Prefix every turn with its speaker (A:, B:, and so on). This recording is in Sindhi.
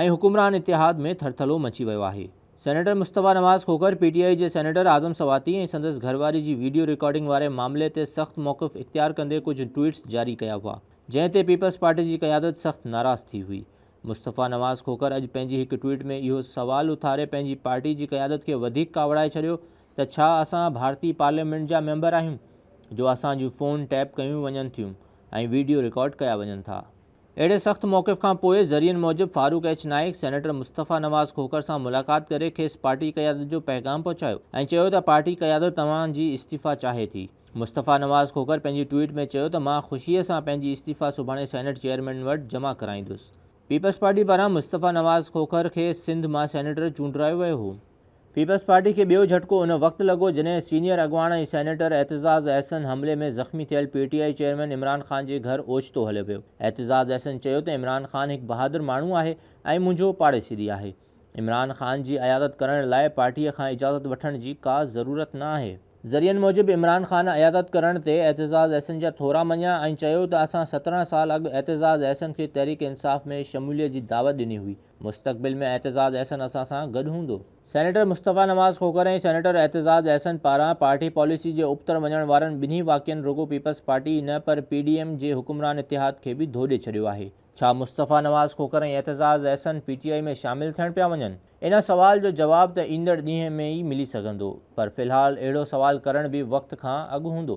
A: ۽ حڪمران اتحاد ۾ ٿرٿلو مچي ويو آهي. Senator Mustafa Nawaz Khokhar P T I جي سينيٽر اعظم سواتي ۽ سندس گهرواري جي ويڊيو رڪارڊنگ واري معاملي تي سخت موقف اختيار ڪندي ڪجهه ٽوئيٽس جاري ڪيا هئا جنهن تي پيپلز پارٽي جي قيادت سخت ناراض ٿي هئي مصطفيٰ نواز کوکر اڄ پنهنجي هڪ ٽوئيٽ ۾ اهو سوال اٿاري پنهنجي پارٽي جي قيادت کي وڌيڪ ڪاوڙائي ڇڏيو ته ڇا اسان ڀارتي پارليامينٽ جا ميمبر آهيون جو اسان جون فون ٽيپ ڪيون وڃن ٿيون ۽ ويڊيو رڪارڊ ڪيا وڃن ٿا. اهڙي سخت موقف کان پوء ذريعن موجب فاروق ايڇ نائيڪ سينيٽر مصطفيٰ نواز کوکر سان ملاقات ڪري کيس پارٽي قيادت جو پيغام پهچايو ۽ چيو ته پارٽي قيادت توهان جي استعيفيٰ چاهي ٿي. مصطفيٰ نواز کوکر پنهنجي ٽوئيٽ ۾ چيو ته مان خوشيء سان پنهنجي استعيفيٰ سڀاڻي سينيٽ چيئرمين وٽ جمع ڪرائيندس. پيپلز پارٽي پاران مصطفيٰ نواز کوکر کي سنڌ مان سينيٽر چونڊرايو ويو هو. پيپلز پارٽي کي ٻيو جهٽڪو ان وقت لڳو جڏهن سينيئر اڳواڻ ۽ سينيٽر اعتزاز احسن حملي ۾ زخمي ٿيل P T I chairman Imran Khan جي گهر اوچتو هليو ويو. اعتزاز احسن چيو ته عمران خان هڪ بهادر ماڻهو آهي ۽ منهنجو پاڙيسي به آهي. عمران خان جي عيادت ڪرڻ لاء پارٽيء کان اجازت وٺڻ جي ڪا ضرورت نه آهي. ذريعن موجب عمران خان عيادت ڪرڻ تي اعتزاز احسن جا ٿورا مڃيا ۽ چيو ته اسان سترهن سال اڳ اعتزاز احسن کي تحريڪ انصاف ۾ شموليت جي دعوت ڏني هئي. مستقبل ۾ اعتزاز احسن اسان سان گڏ هوندو. سينيٽر مصطفيٰ نواز کوکر ۽ سينيٽر اعتزاز احسن پاران پارٽي پاليسي جي ابتڙ وڃڻ وارن ٻنهي واقعن رڳو پيپلز پارٽي ئي نه پر پي ڊي ايم جي حڪمران اتحاد کي به ڌوڏي ڇڏيو آهي. ڇا Mustafa Nawaz Khokhar ۽ Aitzaz Ahsan P T I ۾ شامل ٿيڻ پيا وڃن؟ ان سوال جو جواب ته ايندڙ ڏينهن ۾ ئي ملي سگهندو پر في الحال اهڙو سوال ڪرڻ به وقت کان اڳ هوندو.